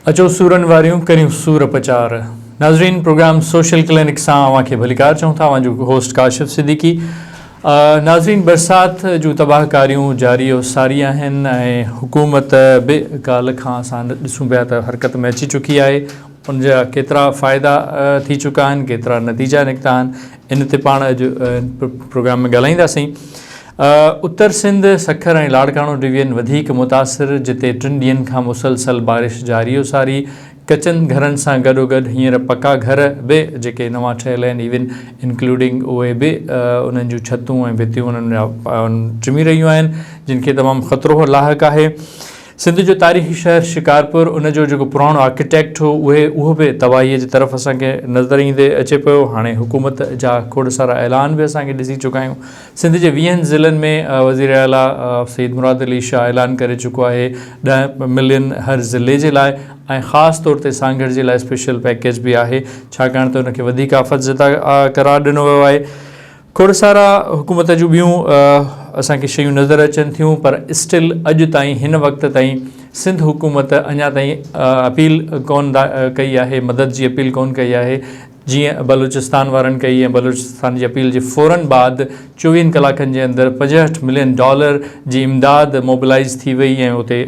اچو سورن واريون ڪريون سور پچار. ناظرين پروگرام سوشل ڪلينڪ سان اوهان کي ڀليڪار چئون ٿا اوهان جو هوسٽ ڪاشف صديقي ناظرين برسات جون تباهه ڪاريون جاري و ساري آهن ۽ حڪومت به ڪالهه کان اسان ڏسون پيا ته حرڪت ۾ اچي چڪي آهي ان جا ڪيترا فائدا ٿي چڪا آهن ڪيترا نتيجا نڪتا آهن ان تي پاڻ اڄ پروگرام ۾ ڳالهائينداسين اتر سنڌ، سکر ۽ لاڙڪاڻو ڊويزن وڌيڪ متاثر جتي ٽن ڏينهن کان مسلسل بارش جاري و ساري، ڪچن گهرن سان گڏوگڏ هينئر پڪا گهر به جيڪي نوان ٺهيل آهن ايون انڪلوڊنگ اهي به انهن جون ڇتون ۽ ڀتيون انهن جا چمي رهيون آهن جن کي تمام خطرو لاحق آهي. سنڌ جو تاريخي شهر شڪارپور ان جو جيڪو پراڻو آرڪيٽيڪٽ هو اهي اهو به تباهي جي طرف اسان کي نظر ايندي اچي پيو هاڻي حڪومت جا کوڙ سارا اعلان به اسان کي ڏسي چڪا آهيون سنڌ جي ويهن ضلعن ۾ وزير اعليٰ سيد مراد علي شاهه اعلان ڪري چڪو آهي ڏهه ملين هر ضلعي جي لاء ۽ خاص طور تي سانگهڙ جي لاء اسپيشل پيڪيج به آهي ڇاڪاڻ ته ان کي وڌيڪ آفت زده قرار ڏنو ويو آهي کوڙسارا حڪومت جون ٻيون اسان کي شيون نظر اچن ٿيون پر اسٽل اڄ تائين هن وقت تائين سنڌ حڪومت اڃا تائين اپيل ڪون ڪئي آهي مدد جي اپيل ڪون ڪئي آهي جيئن بلوچستان وارن ڪئي ۽ بلوچستان جي اپيل جي فورن بعد چوويهن ڪلاڪن جي اندر پنجهٺ ملين ڊالر جي امداد موبلائيز ٿي وئي ۽ اتي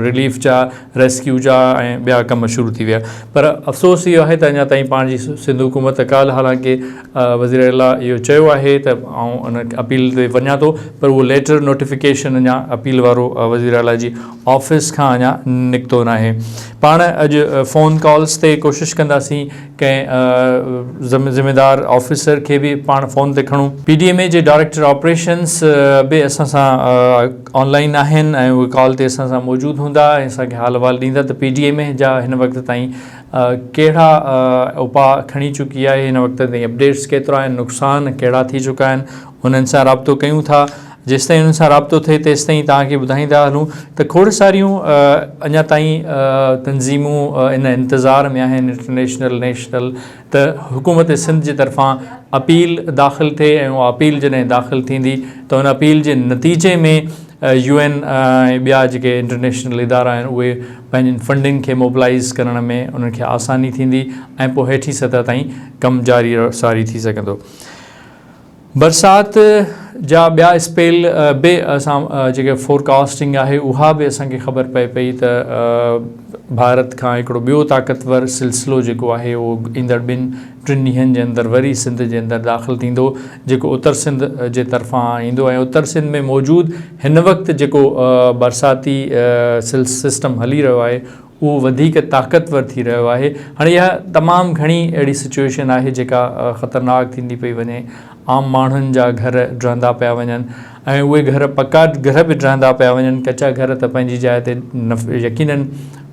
رليف جا ريسڪيو جا ۽ ٻيا ڪم شروع ٿي ويا پر افسوس اهو آهي ته اڃا تائين پاڻ جي سنڌ حڪومت ڪالهه حالانڪه وزير اعليٰ اهو چيو آهي ته آئون ان اپيل تي وڃان ٿو پر اهو ليٽر نوٽيفڪيشن اڃا اپيل وارو وزير اعليٰ جي آفيس کان اڃا نڪتو ناهي پاڻ اڄ فون ڪالز تي ڪوشش ڪنداسين ڪنهن ذميوار آفيسر کي به پاڻ فون تي کڻون. پي ڊي ايم اي جي ڊائريڪٽر آپريشنز به اسان سان آن لائين آهن ۽ اهي ڪال تي اسان سان موجود هوندا ۽ اسان کي حال احوال ڏيندا ته پي ڊي ايم اي جا هن وقت تائين ڪهڙا اپاء کڻي چڪي آهي، هن وقت تائين اپڊيٽس ڪيترا آهن، نقصان ڪهڙا ٿي چڪا آهن، انهن سان رابطو ڪيون ٿا. جيستائين انهن سان رابطو ٿئي تيستائين توهان کي ٻڌائيندا هلون ته کوڙ ساريون اڃا تائين تنظيمون ان انتظار ۾ آهن انٽرنيشنل نيشنل ته حڪومت سنڌ جي طرفان اپيل داخل ٿئي ۽ اها اپيل جڏهن داخل ٿيندي ته ان اپيل جي نتيجي ۾ يو اين ۽ ٻيا جيڪي انٽرنيشنل ادارا آهن اهي پنهنجين فنڊنگ کي موبلائيز ڪرڻ ۾ انهن کي آساني ٿيندي ۽ پوء هيٺين سطح تائين ڪم جاري ساري ٿي سگهندو. برسات جا ٻيا اسپيل به اسان جيڪي فورڪاسٽنگ آهي اها به اسان کي خبر پئي پئي ته ڀارت کان هڪڙو ٻيو طاقتور سلسلو جيڪو آهي اهو ايندڙ ٻن ٽن ڏينهن جي اندر وري سنڌ جي اندر داخل ٿيندو جيڪو اتر سنڌ جي طرفان ايندو ۽ اتر سنڌ ۾ موجود هن وقت جيڪو برساتي سسٽم هلي رهيو آهي اهو وڌيڪ طاقتور ٿي رهيو آهي. هاڻي اها تمام گهڻي اهڙي سچوئيشن آهي جيڪا خطرناڪ ٿيندي پئي وڃي. عام ماڻهن جا گهر ڊهندا پيا وڃن ۽ اهي گهر پڪا گهر به ڊهندا پيا وڃن. ڪچا گهر ته پنهنجي جاء تي يقينن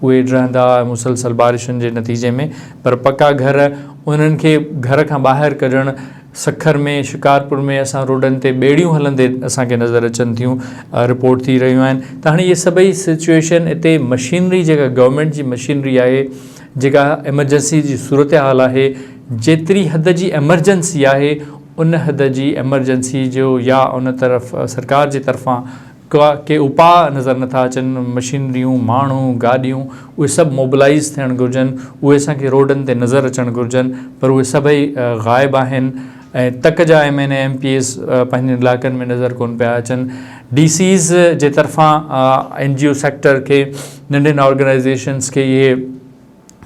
اهي ڊهندا مسلسل بارشن جي نتيجي ۾ پر پڪا گهر انهن کي گهر کان ٻاهر ڪڍڻ، سکر ۾ شڪارپور ۾ اسان روڊن تي ٻيڙيون هلندي اسان کي نظر اچن ٿيون رپورٽ ٿي رهيون آهن ته هاڻي اهي سڀئي سچوئيشن اتي مشينري جيڪا گورنمينٽ جي مشينري آهي جيڪا ايمرجنسي جي صورتحال آهي جيتري حد جي ايمرجنسي آهي ان حد جي ايمرجنسي جو يا ان طرف سرڪار جي طرفان ڪا ڪي اپاء نظر نٿا اچن، مشينريون، ماڻهو، گاڏيون اهي سڀ موبلائيز ٿيڻ گهرجن، اهي اسان کي روڊن تي نظر اچڻ گهرجن پر اهي سڀئي غائب آهن ۽ تڪ جا M N A M P As پنهنجن علائقن ۾ نظر ڪون پيا اچن، ڊي سيز جي طرفان اين جي او سيڪٽر کي ننڍين آرگنائيزيشنز کي اهي.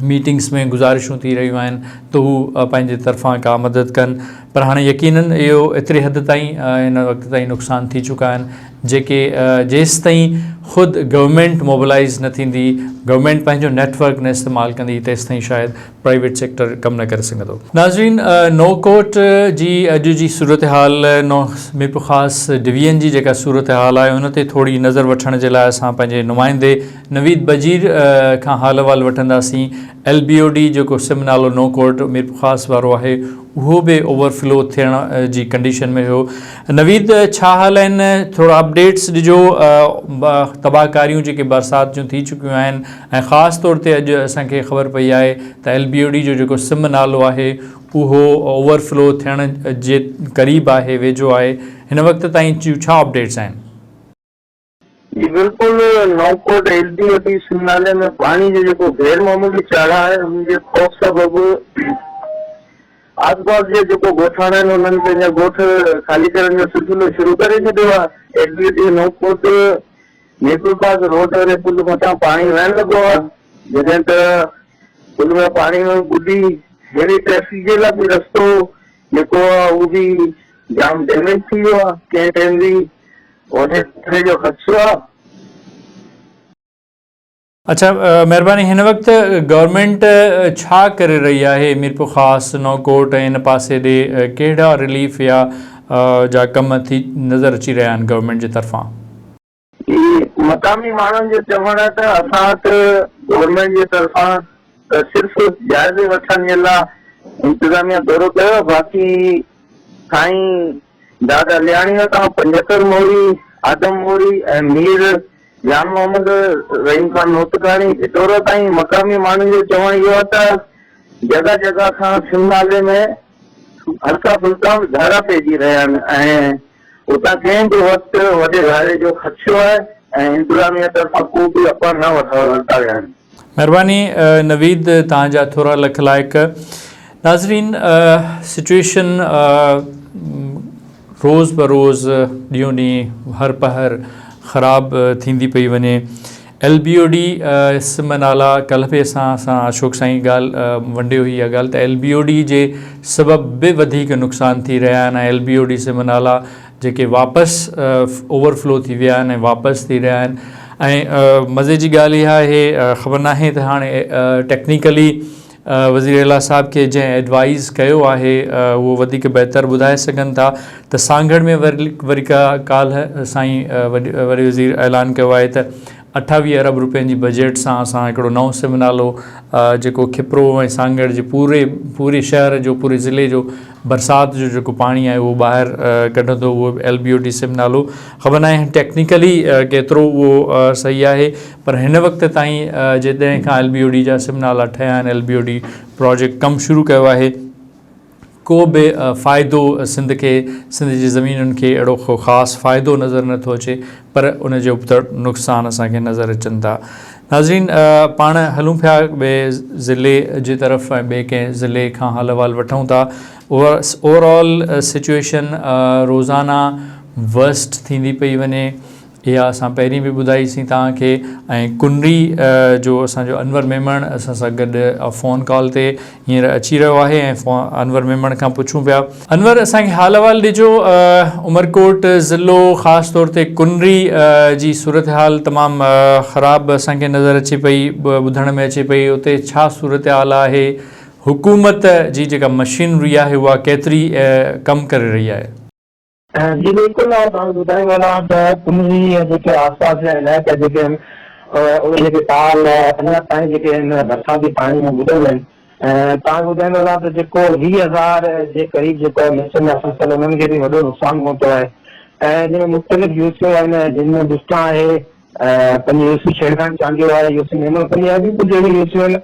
ميٽنگس ۾ گذارشون ٿي رهيون آهن ته هو پنهنجي طرفان ڪا مدد ڪن پر هاڻي يقينن اهو ايتري حد تائين هن وقت تائين نقصان ٿي چڪا آهن جيڪي جيستائين خود گورنمينٽ موبلائز نه ٿيندي گورنمينٽ پنهنجو نيٽ ورڪ نه استعمال ڪندي تيستائين شايد پرائيويٽ سيڪٽر ڪم نه ڪري سگهندو ناظرين نوڪوٽ جي اڄ جي صورتحال نو ميرپورخاص ڊويزن جي جيڪا صورتحال آهي ان تي ٿوري نظر وٺڻ جي لاء اسان پنهنجي نمائندي نويد بجير کان حال احوال وٺنداسين، ايل بي او ڊي جيڪو سم نالو نو ڪورٽ ميرپورخاص وارو آهي اهو به اوور فلو ٿيڻ جي ڪنڊيشن ۾ هيو نويد ڇا حال آهن ٿورا اپڊيٽس ڏجو تباهه ڪاريون جيڪي برسات جون ٿي چڪيون آهن ۽ خاص طور تي اڄ اسان کي خبر پئي آهي ته ايل بي او ڊي جو جيڪو سم نالو آهي اهو اوور فلو ٿيڻ جي قريب آهي ويجهو آهي هن وقت تائين جون ڇا اپڊيٽس آهن. جي بلڪل نوپورٽ L B A P Sindh نالي ۾ پاڻي جو جيڪو غير معمولي چاڙهه آهي ان جي خوف سبب آسپاس جا جيڪو ڳوٺاڻا آهن انهن پنهنجا ڳوٺ خالي ڪرڻ جو سلسلو شروع ڪري ڇڏيو آهي ايل بي اي پي نوپورٽ نيپل پاس روڊ واري پل مٿان پاڻي وهڻ لڳو آهي جڏهن ته پل ۾ پاڻي ۾ ٻڏي هيوي ٽريفڪ جي لاء به رستو جيڪو آهي اهو به جام ڊيميج ٿي ويو آهي ڪنهن ٽائيم به وڏيري جو خدشو آ. اڇا مهرباني هن وقت گورنمينٽ ڇا ڪري رهي آهي ميرپورخاص نوڪوٽ ۽ ان پاسي ڏي ڪهڙا رليف يا جا ڪم ٿي نظر اچي رهيا آهن گورنمينٽ جي طرفان. جي مقامي ماڻهن جو چوڻ آهي ته اسان وٽ گورنمينٽ جي طرفان ته صرف جائزي وٺڻ جي لا انتظاميه دورو ڪيو باقي سائين دادا لياڻيء کان پنجهتر موري، آدم موري ۽ مير جان محمد رحيم خان نوتڪاڻي ڀٽورو تائين مقامي ماڻهن جو چوڻ اهو آهي ته جڳهه جڳهه کان سنڌ نالي ۾ هلڪا ڦلڪا ڌاڙا پئجي رهيا آهن ۽ اتان ڪنهن به وقت وڏي ڌاڙي جو خدشو آهي ۽ انتظاميه طرفان ڪو به اپا نه ورتا ويا آهن. مھرباني نويد توھان جا ٿورا لک لائق. ناظرين سچويشن روز به روز ڏينهون ڏينهن هر پهر خراب ٿيندي پئي وڃي ايل بي او ڊي سم نالا ڪلھ به اسان سان اشوڪ سائين ڳالھ ونڊي هئي اها ڳالھ ته ايل بي او ڊي جي سبب به وڌيڪ نقصان ٿي رهيا آهن ايل بي او ڊي سم نالا جيڪي واپس اوور فلو ٿي ويا آهن ۽ واپس ٿي رهيا آهن ۽ مزي جي ڳالهه اها آهي خبر ناهي ته هاڻي ٽيڪنيڪلي وزير اعليٰ صاحب کي جنهن ايڊوائز ڪيو آهي اهو وڌيڪ بهتر ٻڌائي سگهن ٿا ته سانگهڙ ۾ وري ڪا ڪالهه سائين وڏي وزير اعلان ڪيو آهي ته اٺاويهه ارب روپين جي بجيٽ سان اسان هڪڙو نئون سم نالو جيڪو کپرو ۽ سانگهڙ جي پوري پوري شهر جو پوري ضلعي جو برسات جو جيڪو پاڻي آهي اهو ٻاهر ڪڍندو اهو به ايل بي او ڊي سم نالو خبر ناهي ٽيڪنيڪلي ڪيترو اهو صحيح آهي پر هن وقت تائين جي ڏهين کان ايل بي او ڊي جا سم نالا ٺهيا آهن L B O D project ڪم شروع ڪيو آهي ڪو به فائدو سنڌ کي سنڌ جي زمينن کي اهڙو ڪو خاص فائدو نظر نه ٿو اچي پر ان جي ابتڙ نقصان اسان کي نظر اچن ٿا ناظرين پاڻ هلون پيا ٻئي ضلعي جي طرف ۽ ٻئي ڪنهن ضلعي کان حال احوال وٺون ٿا اوور آل سچويشن روزانه ورسٽ ٿيندي پئي وڃي اها اسان پهرين به ٻڌائي سين توهان کي ۽ ڪنري جو اسان جو انور ميمڻ اسان سان گڏ فون ڪال تي هينئر اچي رهيو آهي ۽ انور ميمڻ کان پڇون پيا انور اسان کي حال احوال ڏجو عمرڪوٽ ضلعو خاص طور تي ڪنري جي صورتحال تمام خراب اسان کي نظر اچي پئي ٻڌڻ ۾ اچي پئي اتي ڇا صورتحال آهي حڪومت جي جيڪا مشينري آهي اها ڪيتري ڪم ڪري رهي آهي. جي بلڪل آء توهان کي ٻڌائي وڃان ته ڪنري ۽ جيڪي آسپاس جا علائقا جيڪي آهن اهي جيڪي ٽال اڃا تائين جيڪي آهن برساتي پاڻي ۾ ٻڏل آهن ۽ توهان کي ٻڌائي وڃان ته جيڪو ويهه هزار جي قريب جيڪو آهي ميچن جا فصل انهن کي به وڏو نقصان پهتو آهي ۽ جن ۾ مختلف يوسيون آهن جن ۾ بسٽان آهي پنهنجي يوسي شيرخان چانڊيو آهي يوسي ميمڻ ڪني آهي ٻيون ڪجهه اهڙيون يوسيون آهن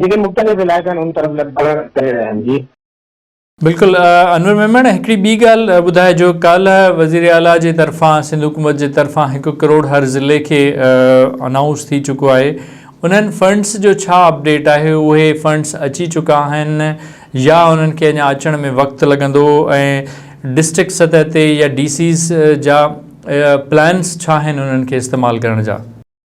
جيڪي مختلف علائقن ان طرف لڏپلاڻ ڪري رهيا آهن جي. بلڪل انور ميمڻ هڪڙي ٻي ڳالھ ٻڌائجو ڪالھ وزير اعليٰ جي طرفان سنڌ حڪومت جي طرفان هڪ ڪروڙ هر ضلعي کي انائونس ٿي چڪو آهي انهن فنڊس جو ڇا اپڊيٽ آهي اهي فنڊس اچي چڪا آهن يا انهن کي اڃا اچڻ ۾ وقت لڳندو ۽ ڊسٽرڪٽ سطح تي يا ڊي سيز جا پلانس ڇا آهن انهن کي استعمال ڪرڻ جا.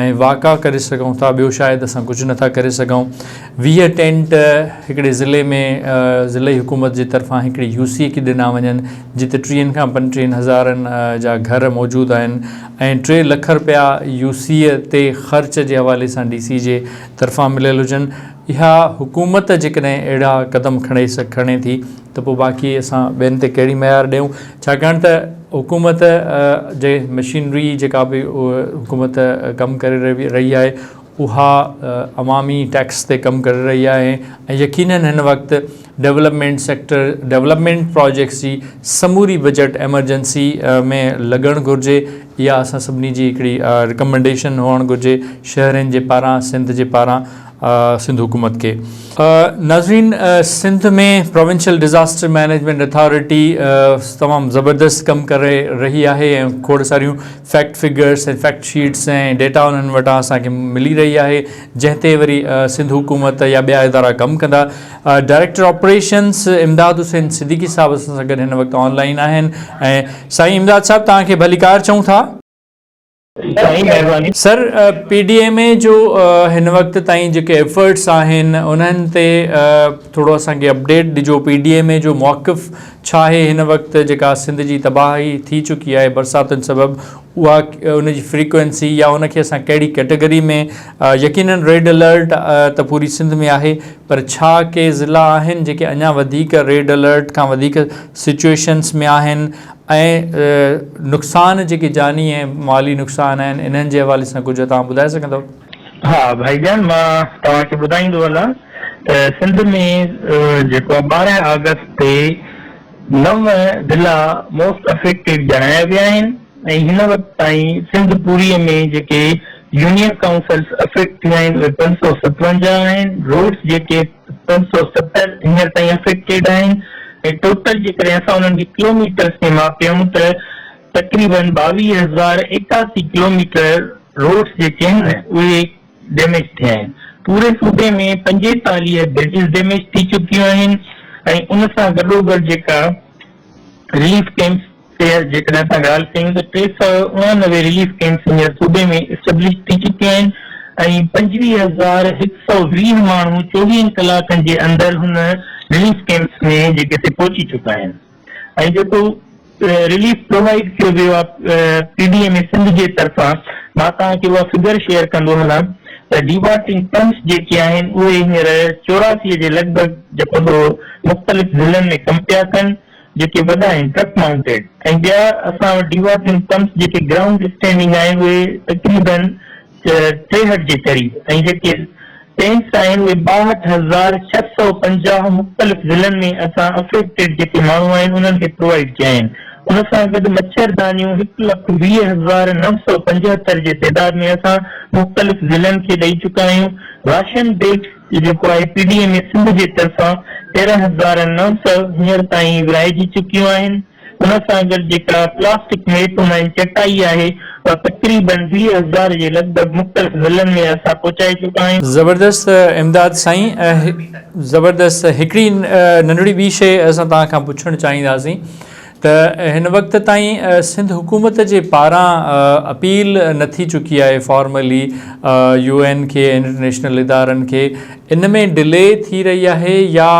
۽ واڪا ڪري سگهون ٿا ٻيو شايد اسان ڪجهه نه ٿا ڪري سگهون ويهه ٽينٽ هڪڙي ضلعي ۾ ضلعي حڪومت جي طرفان هڪڙي يو سي کي ڏنا وڃن جتي ٽيهن کان پنٽيهن هزارن جا گهر موجود آهن ۽ ٽي لک رپيا يو سي تي خرچ جي حوالي سان ڊي سي جي طرفان مليل هجن اها حڪومت جيڪڏهن اهڙا قدم کڻي کڻي ٿي ته پوء باقي اسان ٻين تي ڪهڙي مهار ڏيون ڇاڪاڻ ته حڪومت جي مشينري جيڪا به حڪومت ڪم ڪري رهي آهي اها عوامي ٽيڪس تي ڪم ڪري رهي آهي ۽ يقينن هن وقت ڊولپمينٽ سيڪٽر ڊولپمينٽ پراجيڪٽس جي سموري بجيٽ ايمرجنسي ۾ لڳڻ گهرجي اها اسان سڀني جي هڪڙي رڪمنڊيشن هئڻ گهرجي شهرين جي پاران سنڌ جي پاران سنڌ حڪومت کي. ناظرين Sindh ۾ provincial disaster management authority تمام زبردست ڪم ڪري رهي آهي ۽ کوڙ ساريون fact figures ۽ fact sheets ۽ data انهن وٽان اسان کي ملي رهي آهي جنهن تي وري سنڌ حڪومت يا ٻيا ادارا ڪم ڪندا ڊائريڪٽر آپريشنس امداد حسين صديقي صاحب اسان سان گڏ هن وقت آن لائين آهن ۽ سائين امداد صاحب توهان کي ڀليڪار چئون ٿا. توهانجي مهرباني. Sir P D M A جو هن وقت تائين جيڪي ايفرٽس آهن انهن تي ٿورو اسان کي اپڊيٽ ڏجو پي ڊي ايم اي جو موقف ڇا آهي هن وقت جيڪا سنڌ جي تباهي ٿي چڪي آهي برساتن سبب اها ان جي فريڪوئنسي يا ان کي اسان ڪهڙي ڪيٽيگري ۾ يقينن ريڊ الرٽ ته پوري سنڌ ۾ آهي پر ڇا ڪي ضلعا آهن جيڪي اڃا وڌيڪ ريڊ الرٽ کان وڌيڪ سچوئيشنس ۾ آهن ۽ نقصان جيڪي جاني ۽ مالي نقصان آهن انهن جي حوالي سان ڪجهه توهان ٻڌائي سگهندؤ؟ ها ڀائي جان مان توهان کي ٻڌائيندو هلان ته سنڌ ۾ جيڪو آ ٻارهن آگسٽ تي نو ضلعا موسٽ افيڪٽيڊ ڄاڻايا ويا آهن ۽ هن وقت تائين سنڌ پوري ۾ جيڪي يونين ڪائونسلس افيڪٽ ٿيا آهن اهي پنج سؤ ستونجاهه آهن روڊس جيڪي ٽن سؤ ستر هينئر تائين افيڪٽيڊ آهن ۽ ٽوٽل جيڪڏهن اسان انهن کي ڪلوميٽرز ۾ ماپيون ته تقريباً ٻاويهه هزار ايڪاسي ڪلوميٽر روڊز جيڪي آهن اهي ڊيميج ٿيا آهن پوري صوبي ۾ پنجيتاليهه برجز ڊيميج ٿي چڪيون آهن ۽ ان سان گڏوگڏ جيڪا رليف ڪئمپس خير جيڪڏهن اسان ڳالهه ڪيون ته ٽي سؤ اڻانوي رليف ڪئمپس هينئر صوبي ۾ اسٽيبلش ٿي چڪي آهن ۽ پنجويهه هزار هڪ سؤ ويهه ماڻهو چوويهن ڪلاڪن جي اندر هن رليف ڪئمپس ۾ جيڪي سي پهچي چڪا آهن ۽ جيڪو رليف پرووائيڊ ڪيو ويو آهي P D M A Sindh جي طرفان مان توهان کي اها فگر شيئر ڪندو هلان ته ڊيوارٽنگ پمپس جيڪي آهن اهي هينئر چوراسي جي لڳ ڀڳ جيڪو سو مختلف ضلعن ۾ ڪم پيا ڪن جيڪي وڏا آهن ٽرڪ مائونٽيڊ ۽ ٻيا اسان وٽ ڊيوا ٿين پمپس جيڪي گرائونڊ اسٽينڊنگ آهن اهي تقريباً ٽيهٺ جي قريب ۽ جيڪي ٽينڪس آهن اهي ٻاهٺ هزار ڇهه سؤ پنجاهه مختلف ضلعن ۾ اسان افيڪٽيڊ جيڪي ماڻهو آهن انهن کي پرووائيڊ ڪيا آهن ان سان گڏ مڇر دانيون هڪ لک ويهه هزار نو سؤ پنجهتر جي تعداد ۾ اسان مختلف ضلعن کي ڏئي چڪا آهيون راشن بيگس جو جيڪو آء P D M A Sindh جي طرفان تيرهن هزار نو سؤ هينئر تائين ورهائجي چڪيون آهن، ان سان گڏ جيڪا پلاسٽڪ ميپ مئن چٽائي آهي، اها تقريبن ويهه هزار جي لڳ ڀڳ مختلف ضلعن ۾ اسان پهچائي چڪا آهيون. زبردست امداد سائين زبردست هڪڙي ننڍڙي ٻي شئي اسان توهان کان پڇڻ چاهينداسين ته هن وقت تائين سنڌ حڪومت جي پاران اپيل نه ٿي چڪي آهي فارملي يو اين کي ۽ انٽرنيشنل ادارن کي ان ۾ ڊلي ٿي رهي آهي يا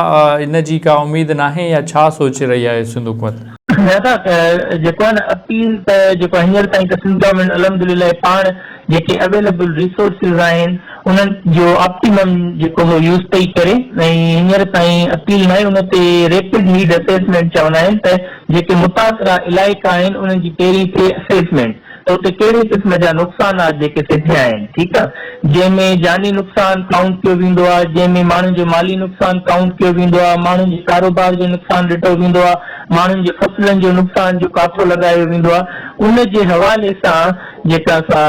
ان جي ڪا اميد ناهي يا ڇا سوچي رهي آهي سنڌ حڪومت؟ جيڪو آهي نه اپيل ته جيڪو هينئر تائين ته سنڌ گورنمينٽ الحمدلله پاڻ جيڪي اويليبل ريسورسز آهن انهن جو آپٽيمم جيڪو هو يوز پئي ڪري ۽ هينئر تائين اپيل ناهي ان تي ريپڊ نيڊ اسيسمينٽ چوندا آهن ته جيڪي متاثره علائقا آهن انهن جي پهرين ٿئي اسيسمينٽ ته اتي ڪهڙي قسم جا نقصانات جيڪي سڌيا آهن ٺيڪ آهي جنهن ۾ جاني نقصان ڪائونٽ ڪيو ويندو آهي جنهن ۾ ماڻهن جو مالي نقصان ڪائونٽ ڪيو ويندو آهي ماڻهن جي ڪاروبار جو نقصان ڏٺو ويندو آهي ماڻهن جي فصلن جو نقصان جو ڪاٿو لڳايو ويندو آهي ان جي حوالي سان جيڪا سا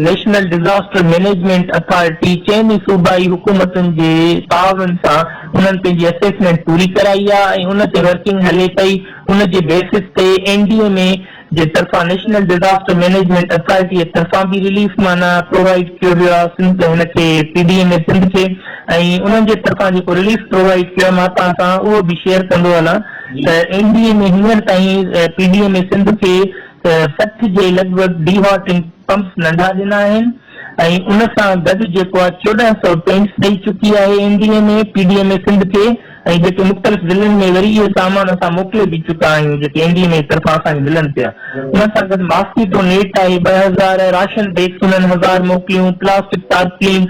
نيشنل ڊزاسٽر مئنيجمينٽ اٿارٽي چئني صوبائي حڪومتن جي تعاون سان انهن پنهنجي اسيسمينٽ پوري ڪرائي آ ۽ ان تي ورڪنگ هلي پئي ان جي بيسس تي اين ڊي ايم اي جي طرفان نيشنل ڊزاسٽر مئنيجمينٽ اٿارٽي جي طرفان به رليف معنيٰ پرووائيڊ ڪيو ويو آ سنڌ هن کي P D M A Sindh کي ۽ انهن جي طرفان جيڪو رليف پرووائيڊ ڪيو آ مان توهان سان اهو به شيئر ڪندو هلان ته اين ڊي ايم اي هينئر تائين P D M A Sindh کي ته سٺ جي لڳ ڀڳ ڊي هاٽنگ پمپس ننڍا ڏنا آهن ۽ ان سان گڏ جيڪو آء چوڏهن سؤ ٽينڪس ڏئي چڪي آهي M D M A, P D M A Sindh کي ۽ جيڪي مختلف ضلعن ۾ وري اهي سامان اسان موڪلي به چڪا آهيون جيڪي ايم ڊي ايم اي طرفان اسان کي ملن پيا ان سان گڏ ماسڪيٽو نيٽ آهي ٻه هزار راشن بيگس انهن هزار موڪليون پلاسٽڪ تارپلين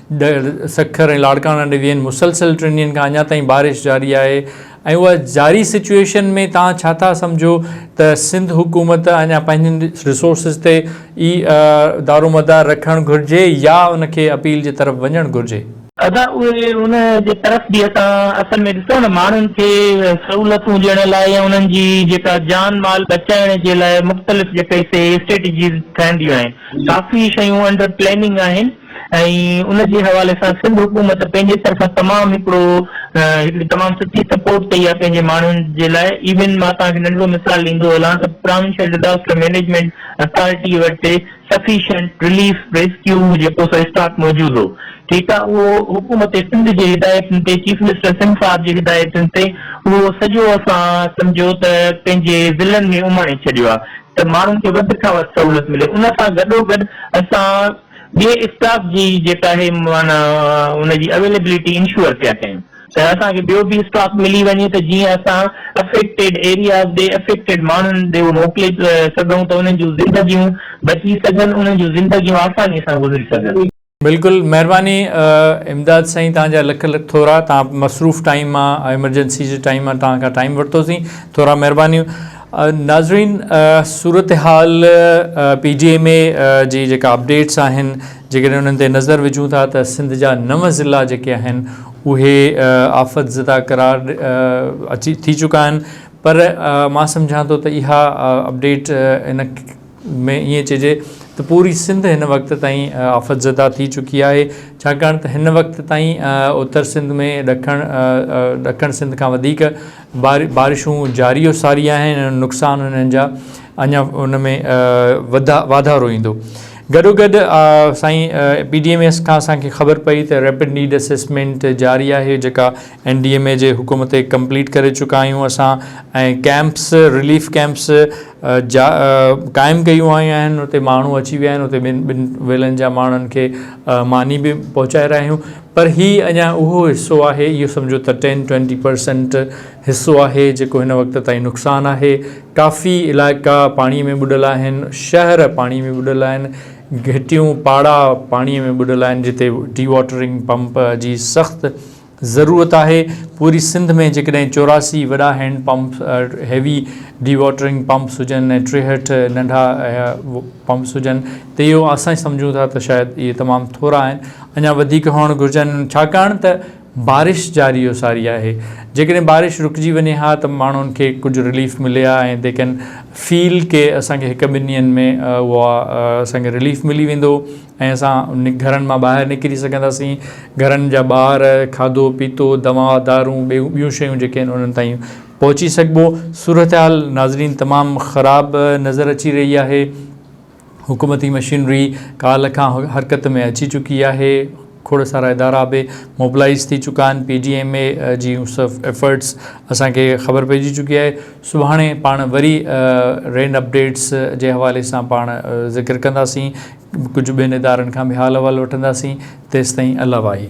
ڏهر، سکر ۽ لاڙڪاڻا ڊويزن مسلسل ٽن ڏينهن کان اڃا تائين بارش جاري آهي ۽ اها جاري سچوئيشن ۾ توهان ڇا ٿا سمجهو ته سنڌ حڪومت اڃا پنهنجن رسورسز تي ئي دارومدار رکڻ گهرجي يا ان کي اپيل جي طرف وڃڻ گهرجي؟ ادا اهي ان جي طرف به اسان اصل ۾ ڏسو نه ماڻهن کي سهولتون ڏيڻ لاء يا انهن جي جيڪا جان مال بچائڻ جي لاء مختلف جيڪي سي اسٽريٽجيز ٺهنديون آهن ڪافي شيون انڊر پليننگ آهن ۽ ان جي حوالي سان سنڌ حڪومت پنهنجي طرفان تمام هڪڙو هڪڙي تمام سٺي سپورٽ ڪئي آهي پنهنجي ماڻهن جي لاء ايون مان توهان کي ننڍڙو مثال ڏيندو هلان ته پراونشل ڊزاسٽر مينيجمينٽ اٿارٽي وٽ سفيشنٽ رليف ريسڪيو جيڪو سو اسٽاڪ موجود هو ٺيڪ آهي اهو حڪومت سنڌ جي هدايتن تي چيف منسٽر سنڌ صاحب جي هدايتن تي اهو سڄو اسان سمجهو ته پنهنجي ضلعن ۾ اماڻي ڇڏيو آهي ته ماڻهن کي وڌ کان وڌ سهولت ملي ان سان گڏو گڏ اسان ٻئي اسٽاف جي جيڪا اهي معنيٰ ان جي اويليبلٽي انشور پيا ڪيون ته اسان کي ٻيو به اسٽاف ملي وڃي ته جيئن اسان افيڪٽيڊ ايرياز ڏي افيڪٽيڊ ماڻهن ڏي اهو موڪلي سگهون ته انهن جون زندگيون بچي سگهن انهن جون زندگيون آساني سان گذري سگهن. بلڪل مهرباني امداد سائين توهان جا لک لک ٿورا توهان مصروف ٽائيم مان ايمرجنسي جي ٽائيم مان توهان کان ٽائيم ورتوسين ٿورا مهربانيون. ناظرين صورتحال پي ڊي ايم اي جي جيڪا اپڊيٽس آهن جيڪڏهن انهن تي نظر وجهون ٿا ته سنڌ جا نو ضلع جيڪي آهن اهي آفت زده قرار اچي ٿي چڪا آهن پر مان سمجهان ٿو ته اها اپڊيٽ ان ۾ ائين چئجي ته پوري سنڌ هن وقت تائين آفت زده ٿي چڪي آهي، ڇاڪاڻ ته هن وقت تائين اتر سنڌ ۾ ڏکڻ ڏکڻ سنڌ کان وڌيڪ بارشون جاري و ساري آهن ۽ نقصان هنن جا اڃا ان ۾ واڌارو ايندو. گڏوگڏ سائين پي ڊي ايم ايس کان اسان کي خبر پئي ته ريپڊ نيڊ اسيسمينٽ جاري آهي جيڪا اين ڊي ايم اي جي حڪم تي ڪمپليٽ ڪري چڪا آهيون اسان ۽ ڪئمپس رليف ڪئمپس جا قائم ڪيون آيون آهن اتي ماڻهو اچي ويا آهن اتي ٻن ٻن ويلن جا ماڻهن کي ماني به پهچائي رهيا آهيون پر هي اڃا اهو حصو آهي اهو سمجهو ته ٽين ٽوئنٽي پرسنٽ حصو آهي جيڪو هن وقت تائين نقصان آهي ڪافي علائقا پاڻي ۾ ٻڏل آهن شهر پاڻي ۾ ٻڏل آهن گهٽيون پاڙا پاڻي ۾ ٻڏل آهن جتي ڊي واٽرنگ پمپ جي سخت ضرورت آهي پوري سنڌ ۾ جيڪڏهن چوراسي وڏا hand pump heavy dewatering pumps هجن ۽ ٽيهٺ ننڍا پمپس هجن ته اهو اسان سمجهون ٿا ته شايد اهي تمام ٿورا آهن اڃا وڌيڪ هئڻ گهرجن ڇاڪاڻ ته بارش جاري و ساري آهي جيڪڏهن بارش رڪجي وڃي ها ته ماڻهن کي ڪجهه رليف ملي ها ۽ دي ڪين فيل ڪي اسان کي هڪ ٻن ڏينهن ۾ اها اسان کي رليف ملي ويندو ۽ اسان گهرن مان ٻاهر نڪري سگهنداسين، گهرن جا ٻار، کاڌو پيتو، دوا دارون ۽ ٻيون شيون جيڪي آهن انهن تائين پهچي سگهبو، صورتحال ناظرين تمام خراب نظر اچي رهي آهي، حڪومتي مشينري ڪالهه کان حرڪت ۾ اچي چڪي آهي، کوڙ سارا ادارا به موبلائيز ٿي چڪا آهن، پي ڊي ايم اي جي ايفرٽس اسان کي خبر پئجي چڪي آهي، سڀاڻي پاڻ وري رينڊ اپڊيٽس جي حوالي سان پاڻ ذڪر ڪنداسين. ڪجهه ٻين ادارن کان به حال احوال وٺنداسين تيستائين الاواهي.